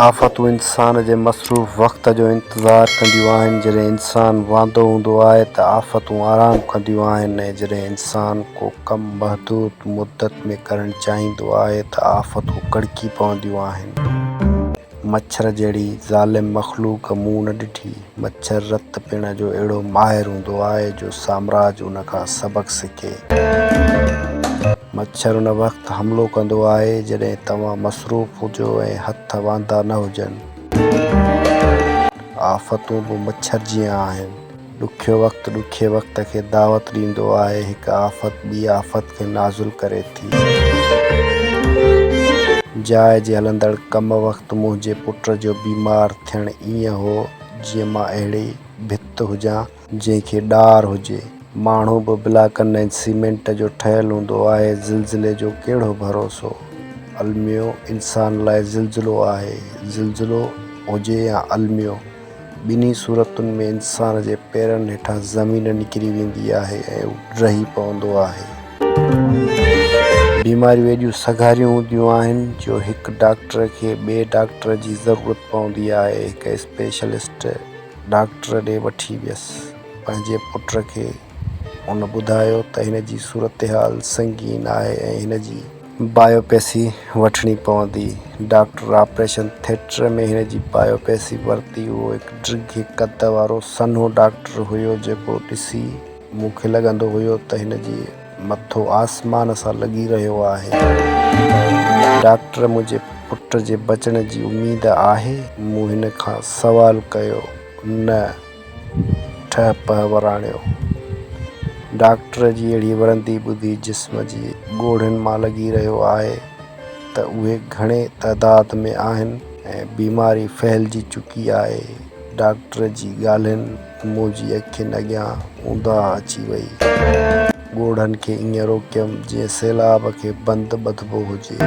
آفتون انسان جي مصروف وقت جو انتظار ڪنديون آهن، جڏهن انسان واندو هوندو آهي ته آفتون آرام ڪنديون آهن ۽ جڏهن انسان ڪو ڪم محدود مدت ۾ ڪرڻ چاهيندو آهي ته آفتون ڪڙڪي پونديون آهن. مڇر جهڙي ظالم مخلوق مون نه ڏٺي. مڇر رت پيئڻ جو اهڙو ماهر هوندو آهي جو سامراج ان کان سبق سکي. مڇر ان وقت حملو ڪندو آهي جڏهن توهان مصروف هجو ۽ هٿ واندا نه هجن. آفتون به مڇر جيان آهن. ڏکيو وقت ڏکي وقت کي دعوت ڏيندو آهي. هڪ آفت ٻي آفت کي نازل ڪري ٿي. جاء جي هلندڙ ڪم وقت منهنجي پٽ جو بيمار ٿيڻ ائين هو جيئن مان اهڙي ڀت هجان، جنهن کي ڏار هجي، ماڻهو به بلاڪن ۽ سيمينٽ جو ٺهيل هوندو آهي، زلزلي جو ڪهڙو ڀروسو، الميو انسان لاء زلزلو آهي، زلزلو هجي يا الميو، ٻنهي صورتن ۾ انسان جي پيرن هيٺان زمين نڪري ويندي آهي ۽ هو ڊهي پوندو آهي. بيماريون ايڏيون سگهاريون هونديون آهن جو هڪ ڊاڪٽر کي ٻئي ڊاڪٽر جي ضرورت پوندي آهي. هڪ اسپيشلسٽ ڊاڪٽر ڏي وٺي ويس. پنهنجي پٽ کي هن ٻڌايو ته هن جي صورتحال سنگين آهي ۽ هن جي. بايوپسي وٺڻي پوندي. ڊاڪٽر آپريشن ٿيٽر ۾ هن جي بايوپسي ورتي. اهو هڪ ڊگهي قد وارو سنهو ڊاڪٽر هيو جيڪو ڏسي. مون کي لڳندو هيو ته هن جي مٿو آسمان سان لڳي رهيو آهي. ڊاڪٽر منهنجي پٽ جي بچڻ جي اميد آهي؟ مون هن کان سوال ڪيو. نه. ٺهه پهه وراڻيو. ڊاڪٽر جي اهڙي ورندي ٻڌي جسم جي ڳوڙهن مان لڳي رهيو آهي ته اهي گهڻي تعداد ۾ آهن ۽ بيماري ڦهلجي چڪي آهي. ڊاڪٽر جي ڳالهين. منهنجي اکين اڳيان اونداهه اچي ويئي. ڳوڙهن کي ائين روڪيم جيئن سيلاب کي بند ٻڌبو هجي.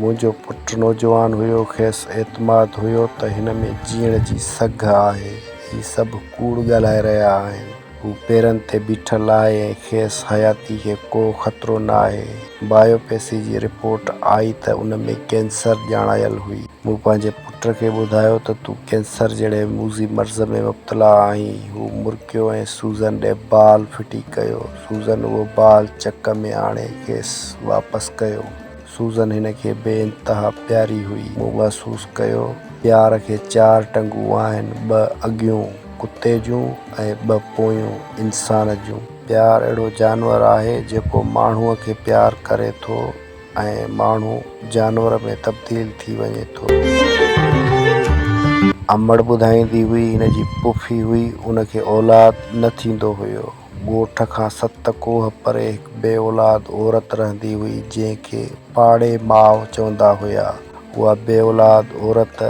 منهنجو پٽ نوجوان هيو، کيس اعتماد هيو ته هن ۾ جيئڻ جي سگهه آهي. هي سڀ ڪوڙ ڳالهائي رهيا آهن. هو پيرن تي بيٺل آهي ۽ کيس حياتي کي ڪو خطرو نه آهي. بايوپسي جي رپورٽ آئي ته ان ۾ ڪينسر ڄاڻايل هئي. مون پنهنجي پٽ کي ٻڌايو ته تون ڪينسر جهڙي موذي مرض ۾ مبتلا آهين. هو مرڪيو ۽ سوزن ڏي بال ڦٽي ڪيو. سوزن اهو بال چڪ ۾ آڻي کيس واپس ڪيو. سوزن هن کي بي انتها پياري هئي. مون محسوس ڪيو، پيار کي چار ٽنگون آهن، ٻه اڳيون، ڪتي جون ۽ ٻه پويون، انسان جون. پيار اهڙو جانور آهي، جيڪو ماڻهوء کي پيار ڪري ٿو ۽ ماڻهو جانور ۾ تبديل ٿي وڃي ٿو. امڙ ٻڌائيندي هئي، هن جي پڦي هئي، ان کي اولاد نه ٿيندو هيو. ڳوٺ کان ست ڪوهه پري هڪ بي اولاد عورت رهندي هئي، جنهن کي پاڙي ماء چوندا هيا. اها بي اولاد عورت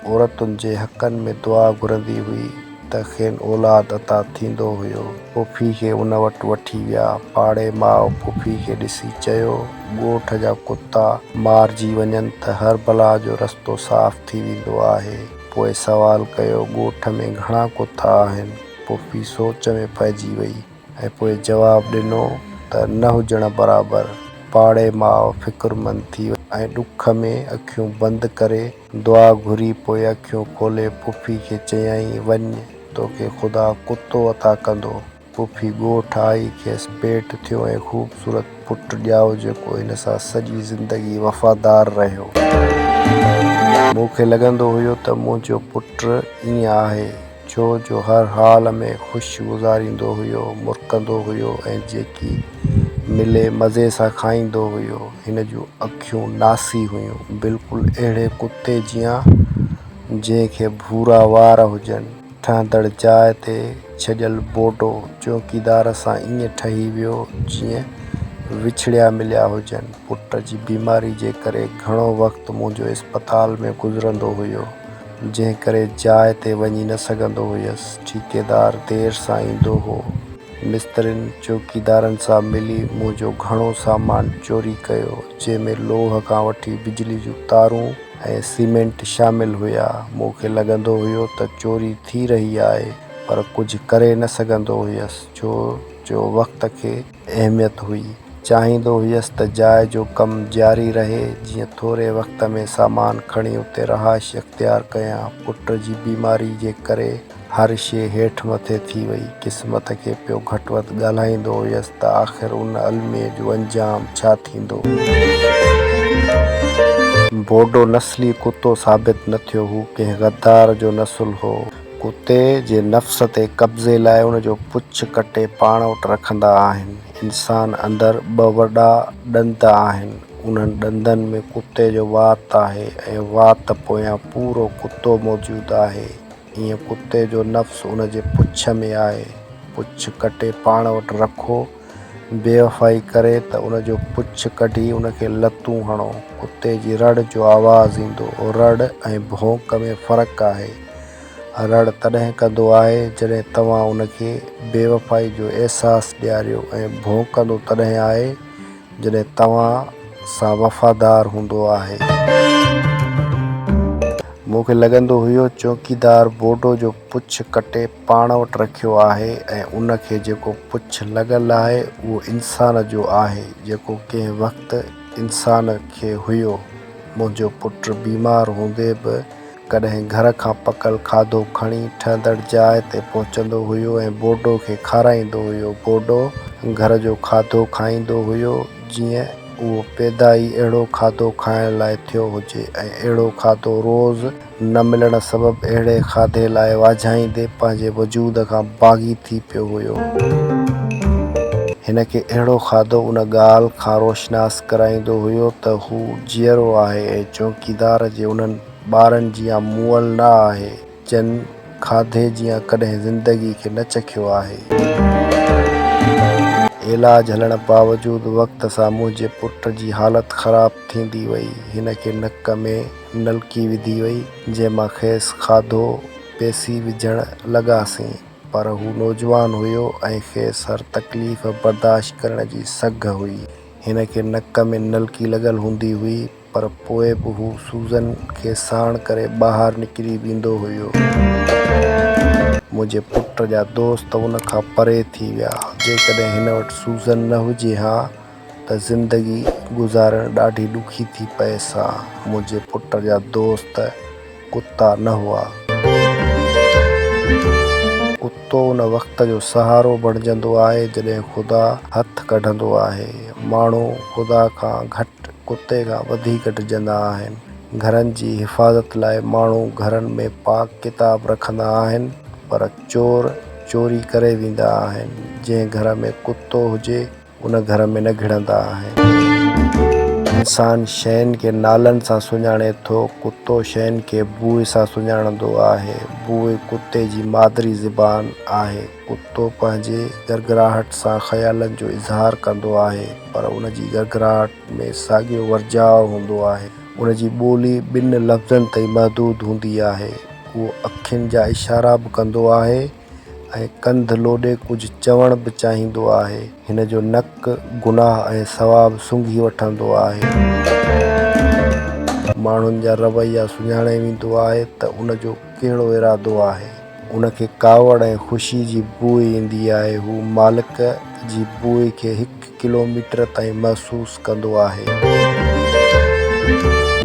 عورتن جي حقن ۾ دعا گهرندي هئي ته کين اولاد عطا ٿيندو هيو. پڦي کي ان وٽ وٺي ويا. پاڙي ماء پڦي کي ڏسي چيو، ڳوٺ جا ڪتا مارجي وڃن ته هر بلا جو رستو صاف ٿي ويندو آهي. پوء سوال ڪيو، ڳوٺ ۾ گهڻا ڪتا آهن؟ پڦي سوچ ۾ پئجي وئي ۽ پوء جواب ڏنو ته نه هجڻ برابر. پاڙي ماء فڪرمند ٿي وئي ۽ ڏک ۾ اکيون بند ڪري دعا گهري پوء اکيون کولي پڦي کي چيائين وڃ توکي خدا ڪتو عطا ڪندو. پڦي ڳوٺ آئي کيس پيٽ ٿيو ۽ خوبصورت پٽ ڄائو جيڪو هن سان سڄي زندگي وفادار رهيو. مون کي لڳندو هيو ته منهنجو پٽ ائين آهي ڇو جو هر حال ۾ خوش گذاريندو هيو، مرڪندو هيو ۽ جيڪي ملي مزي سان کائيندو هيو. هن جون اکيون ناسي هيون، بلڪل اهڙي ڪتي جيان جنهن کي ڀورا وار هجن. ٺهندڙ جاء تي ڇڄيل بوڊو چوڪيدار سان ائين ٺهي ويو جيئن وڇڙيا مليا هجن. پٽ جي بيماري جي ڪري گهڻو وقت منهنجو اسپتال ۾ گذرندو هيو. جنهن ڪري جاء تي وڃي نه سگهندو هيس. ٺيڪيدار دير سان ايندو هو. مسترين چوڪيدارن سان ملي منهنجو گهڻو سامان چوري ڪيو، جنهن ۾ لوهه کان وٺي بجلي جون تارون ۽ سيمينٽ شامل هيا. مون کي لڳندو هيو ته چوري ٿي رهي آهي، پر ڪجهه ڪري نه سگهندو هيس، ڇو جو وقت کي. اهميت هئي. چاهيندو هيس ته جاء جو ڪم جاري رهي، جيئن ٿوري وقت ۾ سامان کڻي اتي رهائش اختيار ڪيان. پٽ جي بيماري جي ڪري هر شيء هيٺ مٿي ٿي وئي. قسمت کي پيو گهٽ وڌ ڳالهائيندو هيس ته آخر ان الميي جو انجام ڇا ٿيندو. بوڊو نسلي ڪتو ثابت نه ٿيو. هو ڪنهن غدار جو نسل هو. ڪتي جي نفس تي قبضي لاء ان جو پڇ ڪٽي پاڻ وٽ رکندا آهن. انسان اندر ٻه وڏا ڏند آهن. انهن ڏندن ۾ ڪتي جو وات آهي ۽ وات پويان پورو ڪتو موجود آهي. ايئن ڪتي جو نفس ان جي پڇ ۾ آهي. پڇ ڪٽي پاڻ وٽ رکو. بيوفائي ڪري ته ان جو پڇ ڪڍي ان کي لتون هڻو. ڪتي جي رڙ جو آواز ايندو. رڙ ۽ ڀونڪ ۾ فرق آهي. رڙ تڏهن ڪندو آهي جڏهن توهان ان کي بيوفائي جو احساس ڏياريو ۽ ڀونڪندو تڏهن آهي جڏهن توهان سان وفادار هوندو آهي. مون کي لڳندو هيو چوڪيدار بورڊو جو پڇ ڪٽي پاڻ وٽ رکيو آهي ۽ ان کي جيڪو پڇ لڳل آهي اهو انسان جو آهي جيڪو ڪنهن وقت انسان کي هيو. منهنجو پٽ بيمار هوندي به ڪڏهن گهر کان پڪل کاڌو کڻي ٺهندڙ جاء تي پهچندو هيو ۽ بورڊو کي کارائيندو هيو. بورڊو گهر جو کاڌو کائيندو هيو جيئن اهو پيدا ئي اهڙو کاڌو کائڻ لاء ٿيو هجي ۽ اهڙو کاڌو روز نه ملڻ سبب اهڙي کاڌي لاء واجهائيندي پنهنجي وجود کان باغي ٿي پيو هيو. هن کي اهڙو کاڌو ان ڳالهه کان روشناس ڪرائيندو هيو ته هو جيئرو آهي ۽ چوڪيدار جي انهن ٻارن جيان مئل نه آهي، جن کاڌي جيان ڪڏهن زندگي کي نه چکيو آهي. علاج هلڻ باوجود وقت سان منهنجي پٽ جي حالت خراب ٿيندي وئي. هن کي نڪ ۾. نلڪي وڌي وئي، جنهن مان کيس کاڌو پيسي وجهڻ لڳاسين، پر هو نوجوان هيو ۽ کيس هر تڪليف برداشت ڪرڻ جي سگهه هئي. هن کي نڪ ۾ نلڪي لڳل هوندي هئي، پر پوء به هو سوزن کي ساڻ ڪري ٻاهر نڪري ويندو هيو. منهنجي پٽ جا دوست ان کان پري ٿي ويا. جيڪڏهن هن وٽ سوزن نه هجي ها، ته زندگي گذارڻ ڏاڍي ڏکي ٿي پئي سا. منهنجي پٽ جا دوست ڪتا نه هئا. ڪتو ان وقت جو سهارو بڻجندو آهي جڏهن خدا هٿ ڪڍندو آهي. ماڻهو خدا کان گهٽ ڪتي کان وڌيڪ ڊڄندا آهن. گهرن جي حفاظت لاء ماڻهو گهرن ۾ پاڪ ڪتاب رکندا آهن پر چور چوري ڪري ويندا آهن. جنهن گهر ۾ ڪتو هجي ان گهر ۾ نه گهڙندا آهن. انسان شين کي نالن سان سڃاڻي ٿو، ڪتو شين کي بوء سان سڃاڻندو آهي. بوء ڪتي جي مادري زبان آهي. ڪتو پنهنجي گرگراهٽ سان خيالن جو اظهار ڪندو آهي، پر ان جي گرگراهٽ ۾ ساڳيو ورجاء هوندو آهي. ان جي ٻولي ٻن لفظن تائين محدود هوندي آهي. اهو اکين جا اشارا به ڪندو آهي. ۽ ڪنڌ لوڏي ڪجهه چوڻ به چاهيندو آهي. هن جو نڪ گناهه ۽ ثواب سونگهي وٺندو آهي. ماڻهن جا رويا سڃاڻي ويندو آهي ته ان جو ڪهڙو ارادو آهي. ان کي ڪاوڙ ۽ خوشي جي بوء ايندي آهي. هو مالڪ جي بوء کي هڪ ڪلوميٽر تائين محسوس ڪندو آهي.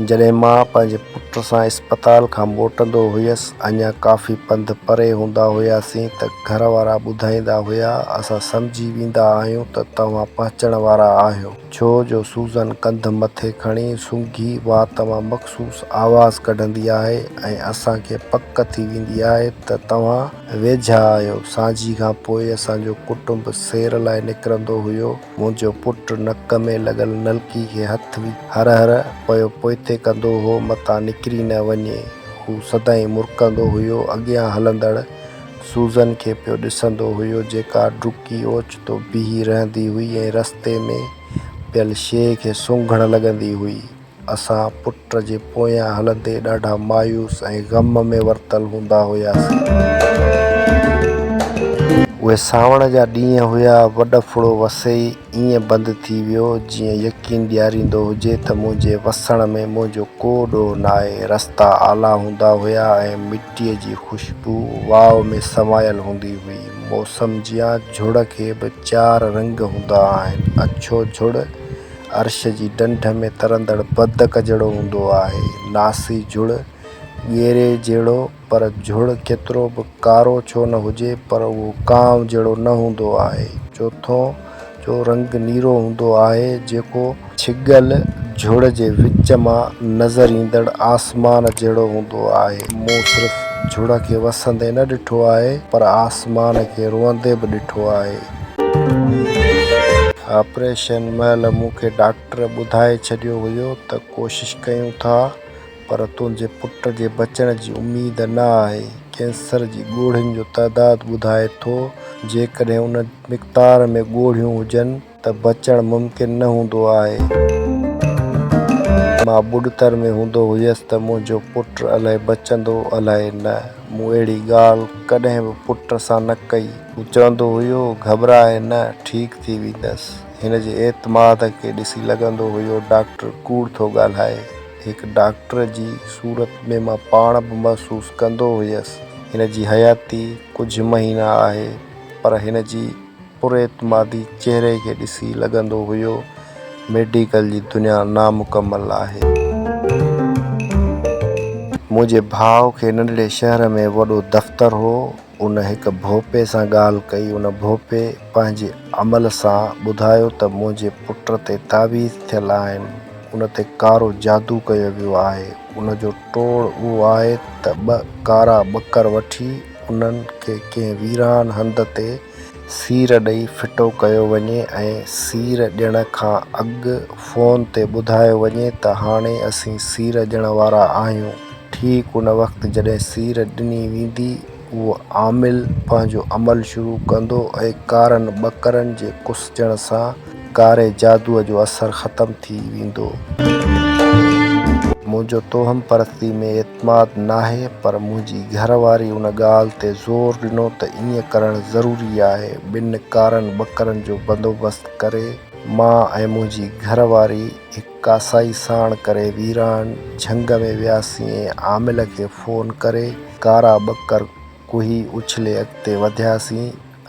جڏهن مان پنهنجي پٽ سان اسپتال کان موٽندو هيس، اڃا ڪافي پنڌ پري هوندا هياسين ته گهر وارا ٻڌائيندا هيا، اسان سمجهي ويندا آهيون ته توهان پهچڻ وارا آهيو. ڇو جو سوزن ڪنڌ مٿي کڻي سونگهي وات مان مخصوص آواز ڪڍندي آهي ۽ اسان کي پڪ ٿي ويندي آهي ته توهان. ويجها آيو. سانجهي کان پوء اسان جو ڪٽنب سير لاء نڪرندو هيو. منهنجو پٽ نڪ ۾ لڳل نلڪي کي هٿ وجهي هر هر پيو پوئتي ڪندو هو متان نڪري نه وڃي. هو سدائين مرڪندو هيو. اڳيان هلندڙ سوزن کي پيو ڏسندو هيو جيڪا ڊڪي اوچتو بيهي رهندي هئي ۽ رستي ۾ پيل شيء کي سونگهڻ لڳندي هئي. اسان پٽ جي پويان هلندي ڏاڍا مايوس ۽ غم ۾ ورتل هوندا هياسين. اهي سانوڻ جا ڏينهن هيا، وڏ ڦڙو وسي ئي ائين بند ٿي ويو، جيئن يقين ڏياريندو هجي ته منهنجي وسڻ ۾ منهنجو ڪو ڏوهه ناهي. رستا آلا هوندا هيا ۽ مٽيء جي خوشبو واء ۾ سمايل هوندي هئي. موسم جيان جھڙ کي به چار رنگ هوندا آهن، اڇو جھڙ، عرش جي ڍنڍ ۾ ترندڙ بدڪ جهڙو هوندو آهي، ناسي جھڙ، ڳيري جهڙو، پر جھڙ ڪيترو به ڪارو ڇو نه هجي پر اهو ڪانء جهڙو نه هوندو آهي. چوٿون، جو رنگ نيرو هوندو آهي، جيڪو. ڇڳل جھڙ جي وچ مان نظر ايندڙ آسمان جهڙو هوندو آهي. مون صرف جھڙ کي وسندي نه ڏٺو آهي، پر آسمان کي روئندي به ڏٺو آهي. آپريشن مهل مون کي ڊاڪٽر ٻڌائي ڇڏيو هيو ته ڪوشش ڪيون ٿا پر تنهنجي پٽ جي بچڻ جي اميد نه آهي. ڪينسر جي ڳوڙهين جو تعداد ٻڌائي ٿو، جيڪڏهن ان مقدار ۾ ڳوڙهيون هجن ته بچڻ ممڪن نه هوندو آهي. مان ٻڏتر ۾ هوندو هيس ته منهنجو پٽ الائي بچندو الائي نه. مون اهڙي ڳالهه ڪڏهن به پٽ سان نه ڪئي. هو چوندو هيو، گهٻراء نه، ٺيڪ ٿي ويندس. هن جي اعتماد کي ڏسي لڳندو هيو ڊاڪٽر ڪوڙ ٿو ڳالهائي. هڪ ڊاڪٽر جي صورت ۾ مان پاڻ به محسوس ڪندو هيس، هن جي حياتي ڪجهه مهينا آهي، پر هن جي. پر اعتمادي چهري کي ڏسي لڳندو هيو ميڊيڪل جي دنيا نامڪمل آهي. منهنجي ڀاء کي ننڍڙي شهر ۾ وڏو دفتر هو. ان هڪ ڀوپي سان ڳالهه ڪئي. ان ڀوپي پنهنجي عمل سان ٻڌايو ته منهنجي پٽ تي تعويذ ٿيل آهن. ان تي ڪارو جادو ڪيو ويو آهي. ان جو ٽوڙ اهو آهي ته ٻه ڪارا ٻڪر وٺي انهن کي ڪنهن ويران هنڌ تي سير ڏئي ڦٽو ڪيو وڃي ۽ سير ڏيڻ کان اڳ فون تي ٻڌايو وڃي ته هاڻي اسين سير ڏيڻ وارا آهيون. ٺيڪ ان وقت جڏهن سير ڏني ويندي اهو عامل پنهنجو عمل شروع ڪندو ۽ ڪارن ٻڪرن جي ڪسجڻ سان ڪاري جادوء جو اثر ختم ٿي ويندو. منهنجو توهم پرستي ۾ اعتماد ناهي پر منهنجي گهر واري ان ڳالهه تي زور ڏنو ته ائين ڪرڻ ضروري آهي. ٻن ڪارن ٻڪرن جو بندوبست ڪري مان ۽ منهنجي گهر واري هڪ ڪاسائي ساڻ ڪري ويران جهنگ ۾ وياسين ۽ عامل کي فون ڪري ڪارا ٻڪر ڪوهي اڇلي اڳتي وڌياسين.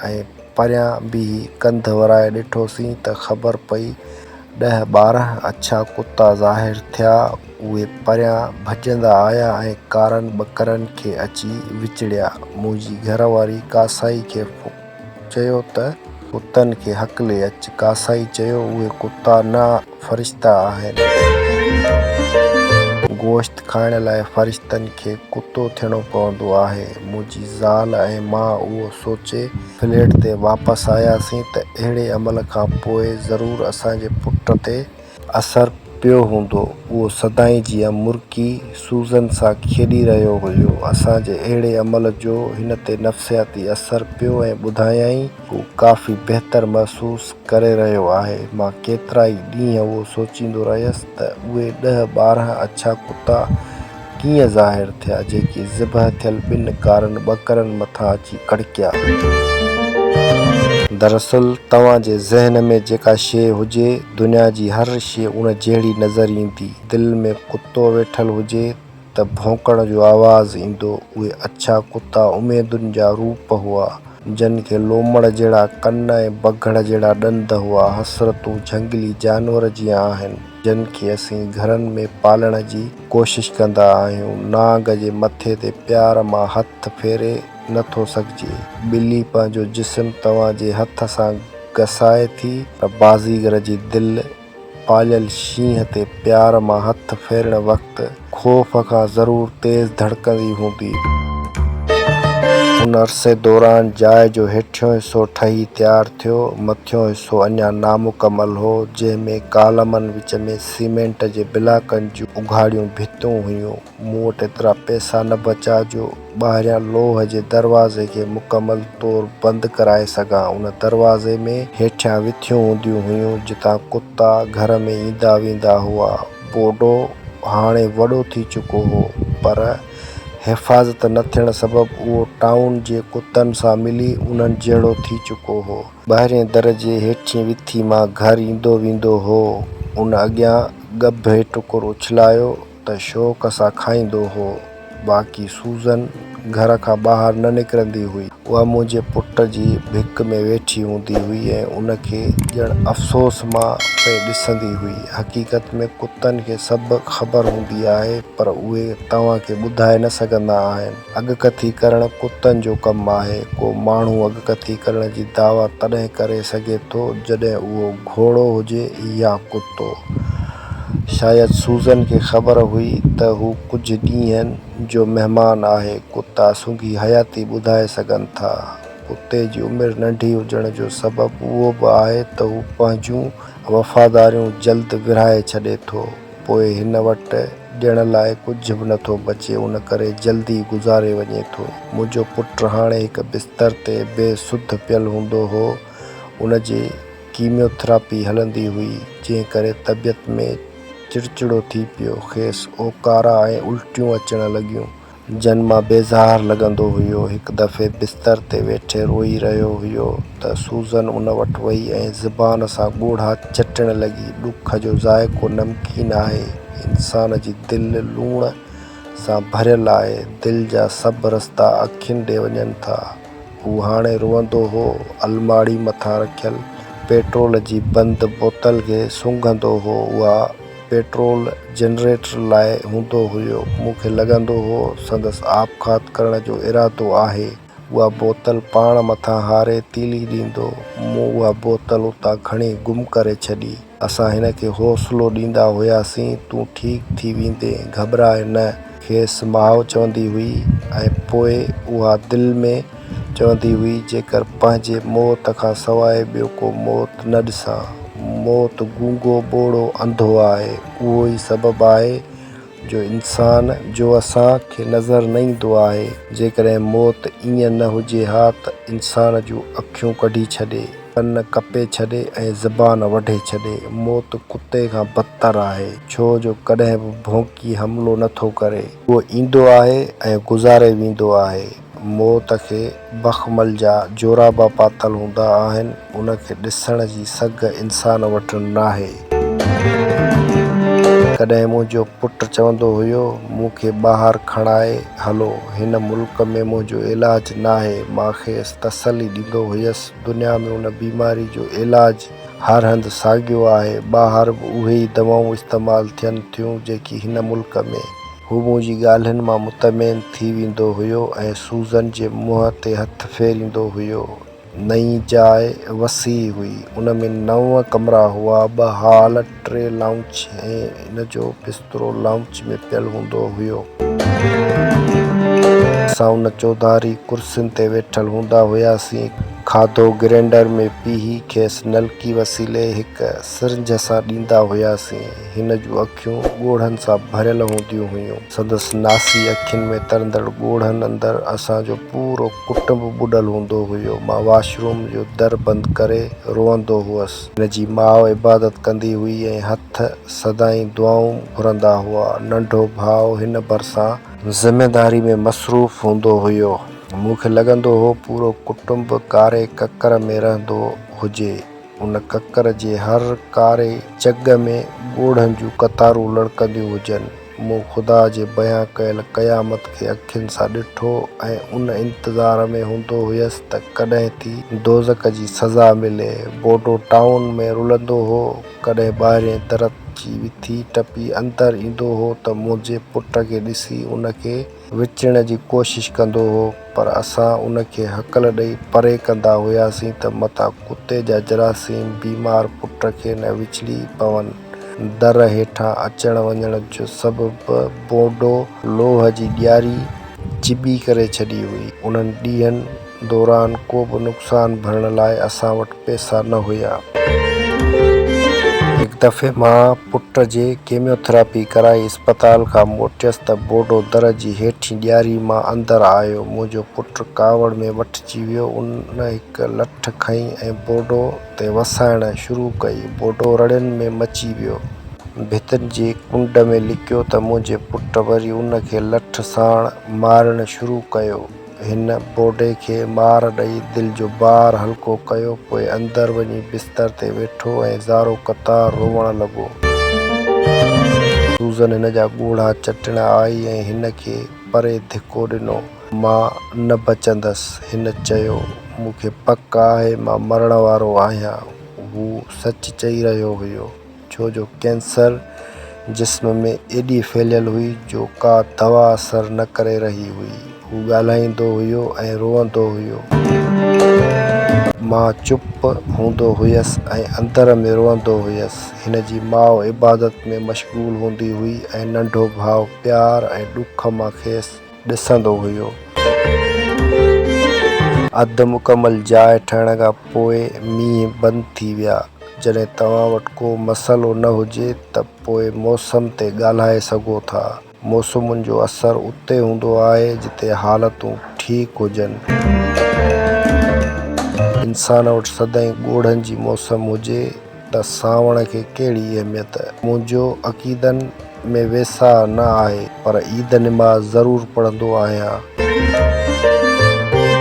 ۽ پريان بيهي ڪنڌ ورائي ڏٺوسين ته خبر پئي ڏهه ٻارهن اڇا ڪتا ظاهر ٿيا. اهي پريان ڀڄندا آيا ۽ ڪارن ٻڪرن کي اچي وچڙيا. منهنجي گهر واري ڪاسائي کي چيو ته. ڪتن کي هڪلي اچ. ڪاسائي چيو اهي ڪتا نه. فرشتا آهن. گوشت کائڻ لاء فرشتن کي ڪتو ٿيڻو پوندو آهي. منهنجي زال ۽ مان اهو سوچي فليٽ تي واپس آياسين ته اهڙي عمل کان پوء ضرور اسان جي پٽ تي اثر پيو هوندو. اهو سدائين جيان مرڪي سوزن سان کيڏي رهيو هيو. اسان جي اهڙي عمل جو هن تي نفسياتي اثر پيو ۽ ٻڌايائين. هو ڪافي بهتر محسوس ڪري رهيو آهي. مان ڪيترائي ڏينهن اهو سوچيندو رهيس ته اهي ڏهه ٻارهن اڇا ڪتا ڪيئن ظاهر ٿيا، جيڪي ذبح ٿيل ٻن ڪارن ٻڪرن مٿان اچي ڪڙڪيا. دراصل توهان جي ذهن ۾ جيڪا شيء هجي، دنيا جي هر شيء ان جهڙي نظر ايندي. دل ۾ ڪتو ويٺل هجي ته ڀونڪڻ جو آواز ايندو، اهي اڇا ڪتا اميدن جا روپ هئا، جن کي لومڙ جهڙا ڪن ۽ بگهڙ جهڙا ڏند هئا، حسرتون جهنگلي جانور جيان آهن، جن کي اسين گهرن ۾ پالڻ جي ڪوشش ڪندا آهيون، نانگ جي مٿي تي پيار مان هٿ ڦيري نه ٿو سگهجي، ٻلي پنهنجو جسم توهان جي هٿ سان گسائي ٿي، پر بازيگر جي دل. پاليل شينهن تي پيار مان هٿ ڦيرڻ وقت خوف کان ضرور تيز ڌڙڪندي هوندي. ان عرصي دوران جاء جو هيٺيون حصو ٺهي تيار ٿيو، مٿيون حصو اڃا نامڪمل هو، جنهن ۾ ڪالمن وچ ۾ سيمينٽ جي بلاڪن جون اگهاڙيون ڀتيون هيون. مون وٽ ايترا پئسا نه بچا جو ٻاهريان لوهه جي دروازي کي مڪمل طور بند ڪرائي سگهان. ان دروازي ۾ هيٺيان وٿيون هونديون هيون جتان ڪتا گهر ۾ ايندا ويندا هئا. بوڊو هاڻي وڏو ٿي چڪو هو پر حفاظت نه ٿيڻ سبب اهو ٽائون جي ڪتن سان ملي انهن جهڙو ٿي چڪو هو. ٻاهرين در جي هيٺين وٿي مان گهر ايندو ويندو هو. ان اڳيان ڳڀ هيٺ ٽڪر اڇلايو. ته شوق سان کائيندو هو، باقي سوزن گهر کان ٻاهر نه نڪرندي هئي. اها منهنجي پٽ جي ڀڪ ۾ ويٺي هوندي هئي ۽ ان کي ڄڻ افسوس مان پئي ڏسندي هئي. حقيقت ۾ ڪتن کي سڀ خبر هوندي آهي، پر اهي توهان کي ٻڌائي نه سگهندا آهن. اڳڪٿي ڪرڻ ڪتن جو ڪم آهي. ڪو ماڻهو اڳڪٿي ڪرڻ جي دعويٰ تڏهن ڪري سگهي ٿو، جڏهن اهو گهوڙو هجي يا ڪتو. شايد سوزن کي خبر هئي ته هو ڪجهه ڏينهن جو مهمان آهي. ڪتا سنگهي حياتي ٻڌائي سگهن ٿا. ڪتي جي عمر ننڍي هجڻ جو سبب اهو به آهي ته هو پنهنجون وفاداريون جلد ورهائي ڇڏي ٿو. پوء هن وٽ ڏيڻ لاء ڪجهه به نٿو بچي ان ڪري جلدي گذاري وڃي ٿو. منهنجو پٽ هاڻي هڪ بستر تي بي سڌ پيل هوندو هو. ان جي ڪيميو ٿراپي هلندي هئي، جنهن ڪري طبيعت ۾ چڙچڙو ٿي پيو. کيس اوڪارا ۽ الٽيون اچڻ لڳيون، جن مان بيزار لڳندو هيو. هڪ دفعي بستر تي ويٺي روئي رهيو هيو ته سوزن ان وٽ وئي ۽ زبان سان ڳوڙها چٽڻ لڳي. ڏک جو ذائقو نمڪين آهي. انسان جي دل لوڻ سان ڀريل آهي. دل جا سڀ رستا اکين ڏي وڃن ٿا. هو هاڻي روئندو هو، الماڙي مٿان رکيل پيٽرول جي بند بوتل کي سونگهندو هو، اها پيٽرول جنريٽر لاء هوندو هيو، مون کي لڳندو هو سندس آپگهات ڪرڻ جو ارادو آهي، اها بوتل پاڻ مٿان هاري تيلي ڏيندو، مون اها بوتل اتان کڻي گم ڪري ڇڏي. اسان هن کي حوصلو ڏيندا هياسين، تون ٺيڪ ٿي ويندين، گهٻراء نه. کيس ماء چوندي هئي ۽ پوء اها دل ۾ چوندي هئي، جيڪر پنهنجي موت کان سواء ٻيو ڪو موت نه ڏسان. موت گونگو، ٻوڙو، انڌو آهي، اهو ئي سبب آهي جو انسان جو اسان کي نظر نه ايندو آهي، جيڪڏهن موت ائين نه هجي ها ته انسان جون اکيون ڪڍي ڇڏي، ڪن ڪپي ڇڏي ۽ زبان وڍي ڇڏي. موت ڪتي کان بدتر آهي، ڇو جو ڪڏهن به ڀونڪي حملو نه ٿو ڪري. هو ايندو آهي ۽ گذاري ويندو آهي. موت کي بخمل جا جورابا پاتل هوندا آهن، ان کي ڏسڻ جي سگهه انسان وٽ ناهي. ڪڏهن منهنجو پٽ چوندو هيو، مون کي ٻاهر کڻائي هلو، هن ملڪ ۾ منهنجو علاج ناهي. مان کيس تسلي ڏيندو هيس، دنيا ۾ ان بيماري جو علاج هر هنڌ ساڳيو آهي، ٻاهر به اهي ئي دوائون استعمال ٿين ٿيون، جيڪي هن ملڪ ۾. هو منهنجي ڳالهين مان مطمئن ٿي ويندو هيو ۽ سوزن جي منهن تي هٿ ڦيريندو هيو. نئين جاء وسيع هئي. ان ۾ نو ڪمرا هئا، ٻه هال، ٽي لائونچ ۽ هن جو بسترو لائونچ ۾ پيل هوندو هيو. اسان ان چوڌاري ڪرسين تي ويٺل هوندا هياسين. کاڌو گرينڊر ۾ پيهي کيس نلڪي وسيلي هڪ سرنج سان ڏيندا هياسين. هن جون اکيون ڳوڙهن سان ڀريل هونديون هيون. سندس ناسي اکين ۾ ترندڙ ڳوڙهن اندر اسان جو پورو ڪٽنب ٻڏل هوندو هيو. مان واش روم جو در بند ڪري روئندو هئس. هن جي ماء عبادت ڪندي هئي ۽ هٿ سدائين دعائون گهرندا هئا. ننڍو ڀاء هن ڀرسان. ذميداري ۾ مصروف هوندو هيو. مون کي لڳندو هو پورو ڪٽنب ڪاري ڪڪر ۾ رهندو هجي. ان ڪڪر جي هر ڪاري جڳ ۾ ڳوڙهن جون قطارون لڙڪنديون هجن. مون خدا جي بيان ڪيل قيامت کي اکين سان ڏٺو ۽ ان انتظار ۾ هوندو هيس ته ڪڏهن ٿي دوزخ جي سزا ملي. بورڊو ٽائون ۾ رلندو هو. ڪڏهن ٻاهرئين درت جي وٿي ٽپي اندر ايندو هو ته منهنجي پٽ کي ڏسي ان کي وچڻ جي ڪوشش ڪندو هو پر اسان ان کي هڪل ڏئي پري ڪندا هياسين ته متان ڪتي جا جراثيم بيمار پٽ کي نه وچڙي پون. در هيٺان اچڻ وڃڻ جو سبب به بونڊو لوهه جي ڏياري چٻي ڪري ڇڏي هئي. انهن ڏينهن. دوران ڪو به نقصان ڀرڻ لاء اسان وٽ پئسا نه هيا. هڪ دفعي مان پٽ جي ڪيميو ٿراپي ڪرائي اسپتال کان موٽيس ته بوڊو در جي هيٺين ڏياري مان اندر آيو. منهنجو پٽ ڪاوڙ ۾ وٺجي ويو. ان هڪ لٺ کنئي ۽ بوڊو تي وسائڻ شروع ڪئي. بوڊو رڙين ۾ مچي ويو. ڀتين جي ڪنڊ ۾ لڪيو ته منهنجي پٽ وري ان کي لٺ ساڻ مارڻ شروع ڪيو. هن بوڊي کي مار ڏئي دل جو بار هلڪو ڪيو، پوء اندر وڃي بستر تي ويٺو ۽ زارو قطار روئڻ لڳو. سوزن هن جا ڳوڙها چٽڻ آئي ۽ هن کي پري ڌڪو ڏنو. مان نه بچندس. هن چيو، مون کي پڪ آهي مان مرڻ وارو آهيان. هو سچ چئي رهيو هيو. ڇو جو ڪينسر جسم ۾ ايڏي ڦهليل هئي جو ڪا دوا اثر نه ڪري رهي هئي. هو ڳالهائيندو هيو ۽ روئندو هيو. مان چپ هوندو هيس ۽ اندر ۾ روئندو هيس. هن جي ماء عبادت ۾ مشغول هوندي هئي ۽ ننڍو ڀاء پيار ۽ ڏک مان کيس. ڏسندو هيو. اڌ مڪمل جاء ٺهڻ کان پوء مينهن بند ٿي ويا. جڏهن توهان وٽ ڪو مسئلو نه هجي ته پوء موسم تي ڳالهائي سگهو ٿا. موسمن جو اثر اتي هوندو آهي جتي حالتون ٺيڪ هجن. انسان وٽ سدائين ڳوڙهن جي موسم هجي. ته سانوڻ کي ڪهڙي اهميت؟ منهنجو عقيدن ۾ ويساهه نه آهي، پر عيد نماز ضرور پڙهندو آهيان.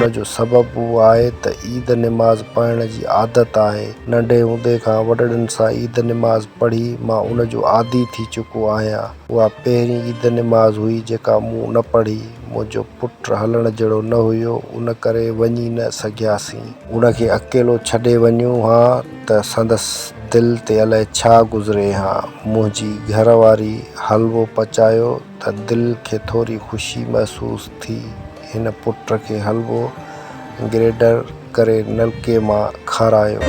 ان جو سبب اهو آهي ته عيد نماز پڙهڻ جي عادت آهي. ننڍي هوندي کان وڏڙن سان عيد نماز پڙهي مان ان جو عادي ٿي چڪو آهيان. اها پهرين عيد نماز هئي جيڪا مون نه پڙهي. منهنجو پٽ هلڻ جهڙو نه هيو، ان ڪري وڃي نه سگهياسين. ان کي اڪيلو ڇڏي وڃون ها ته سندس دل تي الائي ڇا گذري ها. منهنجي گهر واري حلوو پچايو ته دل کي ٿوري خوشي محسوس ٿي. هن پٽ کي حلوو گريڊر ڪري نلڪي مان کارايو.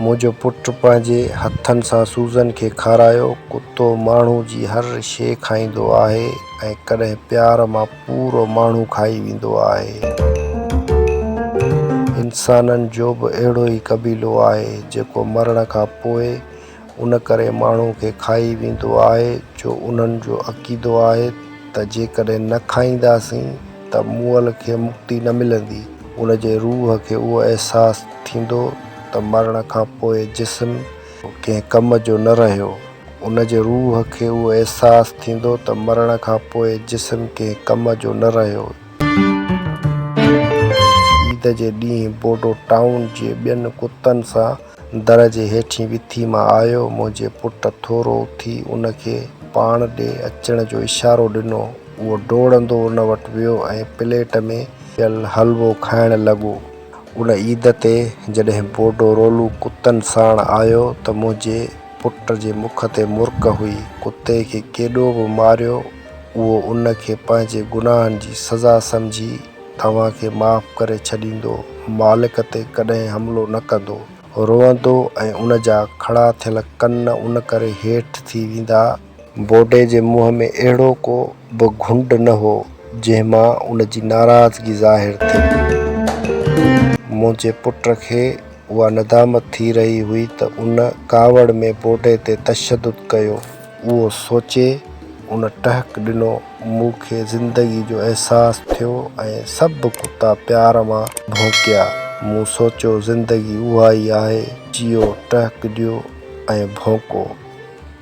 منهنجو پٽ پنهنجي هٿن سان سوزن کي کارايو. ڪتو ماڻهو جي هر شيء کائيندو آهي ۽ ڪڏهن پيار مان. پورو ماڻهو کائي ويندو آهي. انسانن جو به اهڙو ئي قبيلو آهي جيڪو مرڻ کان پوء ان ڪري ماڻهو کي کائي ويندو آهي جو انهن جو عقيدو آهي ته جيڪڏهن نه کائينداسين ته مئل کي مڪتي نه ملندي. ان جي روح کي اهو احساس ٿيندو ته مرڻ کان پوء جسم ڪنهن ڪم جو نه رهيو. ان جي روح کي اهو احساس ٿيندو ته مرڻ کان پوء جسم ڪنهن ڪم جو نه رهيو. عيد جي ڏينهن بوڊو ٽائون جي ٻين ڪتن سان در جي هيٺين وٿي مان آيو. منهنجي پٽ ٿورو اٿي ان کي پاڻ ڏي اچڻ جو اشارو ڏنو. اهو ڊوڙندو ان وٽ ويو ۽ پليٽ ۾ پيل حلوو کائڻ لڳو. ان عيد تي جڏهن بوڊو رولو ڪتن ساڻ آيو ته منهنجي پٽ جي مک تي مرڪ هئي. ڪتي کي ڪيڏو به ماريو اهو ان کي پنهنجي گناهن جي سزا سمجهي توهان کي معاف ڪري ڇڏيندو، مالڪ تي ڪڏهن حملو نه ڪندو. روئندو ۽ ان جا کڙا ٿيل ڪن ان ڪري هيٺ ٿي ويندا. بوڊي جي منهن ۾ اهڙو ڪو به گهنڊ نه هو، جنهن مان ان جي ناراضگي ظاهر ٿئي. منهنجي پٽ کي اها ندامت ٿي رهي هئي ته ان ڪاوڙ ۾ بوڊي تي تشدد ڪيو. اهو سوچي ان ٽهڪ ڏنو. مون کي زندگي جو احساس ٿيو ۽ سڀ ڪتا پيار مان ڀونڪيا. مون سوچيو زندگي اها ئي آهي، جيئو، ٽهڪ ڏيو ۽ ڀونڪو.